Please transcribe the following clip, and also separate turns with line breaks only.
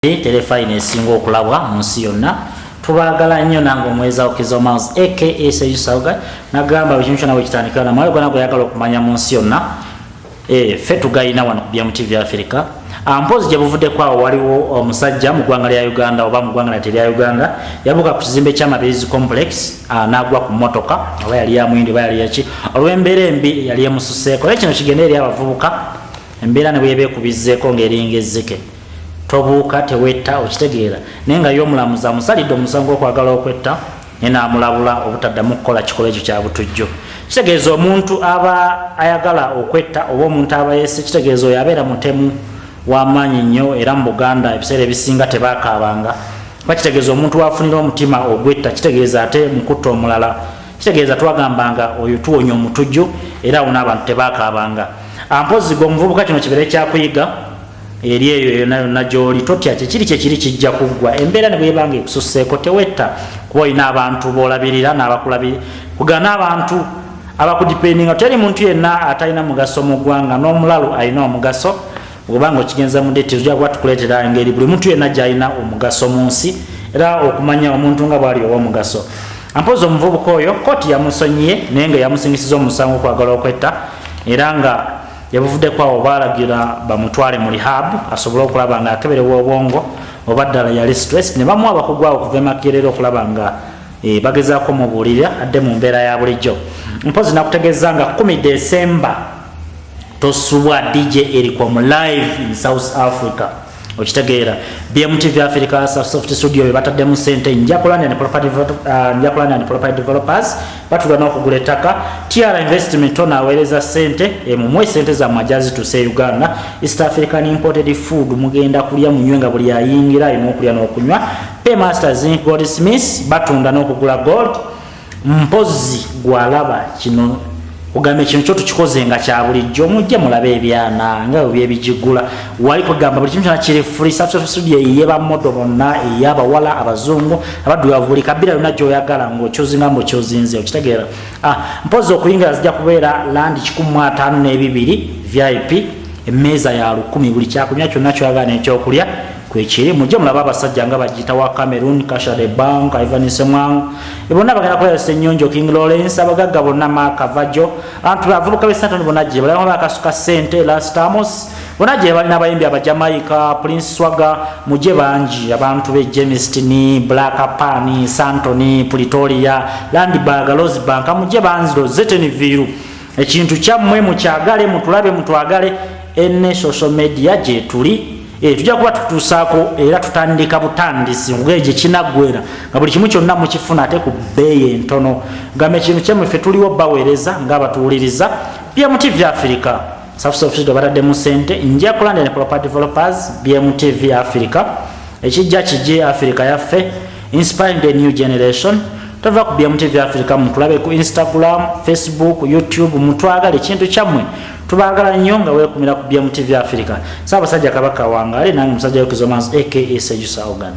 terefayina esinga okulabwa mu nsi yonna tubagala nnyo nange omweza okizo mals aka seusaga nagamba buli kintu kyona bwekitandikira na mwalo gona gweyagala okumanya mu nsi yonna eh, ffe tugayina wano ku byamu tv africa ah, mpozi gye buvuddeko awo waliwo omusajja oh, mu ggwanga lya uganda oba mu ggwanga lati lya uganda yabuuka ku kizimbe kya mabirizi complex ah, n'agwa ku mmotoka oba yali ya muyindi oba yali yaki olw'embeera embi yali emususeeko naye kino kigenda eri abavubuka embeera ne bweyebeekubizeeko ng'eringa ezzike tobuuka tewetta okitegeera naye nga ye omulamuzi amusalidde omusango gwokwagala okwetta naye namulabula obutaddamu kukola kikolwa ekyo kyabutujjo kitegeeza omuntu aba ayagala okwetta oba omuntu aba yese kitegeeza oyo abeera mutemu wamaanyi nnyo era mu buganda ebiseera ebisinga tebakaabanga kuba kitegeeza omuntu wafunira omutima ogwetta kitegeeza ate mukutta omulala kitegeeza twagambanga oyo tuwonya omutujju era awo n'abantu tebakaabanga ampozi gwe omuvubuka kino kibeere kyakuyiga eri eyo yona yonna gyoli totya kyekiri kyekiri kijja kuggwa embeera ne bwebanga ekususeeko tewetta kuba olina abantu bolabirira nabakulabiri kugana abantu abakudipendinga teri muntu yenna atalina mugaso mu ggwanga n'omulalu alina omugaso obanga okigenza mu deti ojja kuba tukuleetera engeri buli muntu yenna gyalina omugaso mu nsi era okumanya omuntu nga bwali owomugaso ampozi omuvubuka oyo kooti yamusonyiye naye nga yamusingisiza omusango okwagala okwetta era nga yabuvuddeko awo baalagira bamutwale mu rehab asobole okulaba nga akeberewa obwongo oba ddala yali stress ne bamuwa abakugu awo okuva emakerera okulaba nga e, bagezaako mubuulirira adde mu mbeera ya bulijjo mpozi nakutegeeza nga kumi desemba tosubwa dj eriko mu live in south africa okitegeera bmtv africa soft studio bebataddemu sente njakulanda and property uh, njakulanda and property developers batula n'okugula ettaka tiara investment ono aweereza sente emumwe sente zammwe ajazitusa e uganda east african imported food mugenda kulya munywe nga buli ayingira alina okulya n'okunywa paymaster zinc gold smith batunda n'okugula gold mpozi gwalaba kino ogambye kino kyo tukikoze nga kya bulijjo mujje mulabe ebyana nga byebyebigigula wali kugamba buli kimu kyona kiri free substitute eye bamodo bonna eye abawala abazungu abaddugavu buli kabira yona gyoyagala ngaokyozinga ngaokyozinze okitegeera ah, mpozi okuyingira zijja kubeera landi kikumu ataano n'ebibiri vip emmeeza ya lukumi buli kyakulya kyonna kyoyagala nekyokulya kwekiri mujje mulaba abasajja nga bagiyita wa cameroon kashare bank ivan semwang e bonna bagenda kulaba senyonjo king lawrence abagagga bonna makavajo antu bavubuka besantoni bona gye balaba bakasuka sente lastamos bona gye balina abayimbi abajamaika prince swaga mujje bangi abantu be jemistini black pani santoni pretoria landbag losbank mujje banziro zeteni viru ekintu kyammwe mukyagale mutulabe mutwagale ene social media gyetuli Eh, tujja kuba tutuusaako era tutandika butandisi ngeri gye kinaggwera nga buli kimu kyonna mukifuna ate ku bbeeyi entono gamba ekintu kyemwe ffe tuliwo baweereza ngaabatuwuliriza bmtv africa safsofisito bataddemu sente nja kulandene proper developers bmtv africa ekijja kije africa yaffe inspiring the new generation tova ku byamu tv africa mutulabe ku instagram facebook youtube mutwagala ekintu kyammwe tubagala nnyo nga wekumira ku byamu tv africa saabasajja kabaka wangaale nange musajja yokizomansi aka sejusa ogana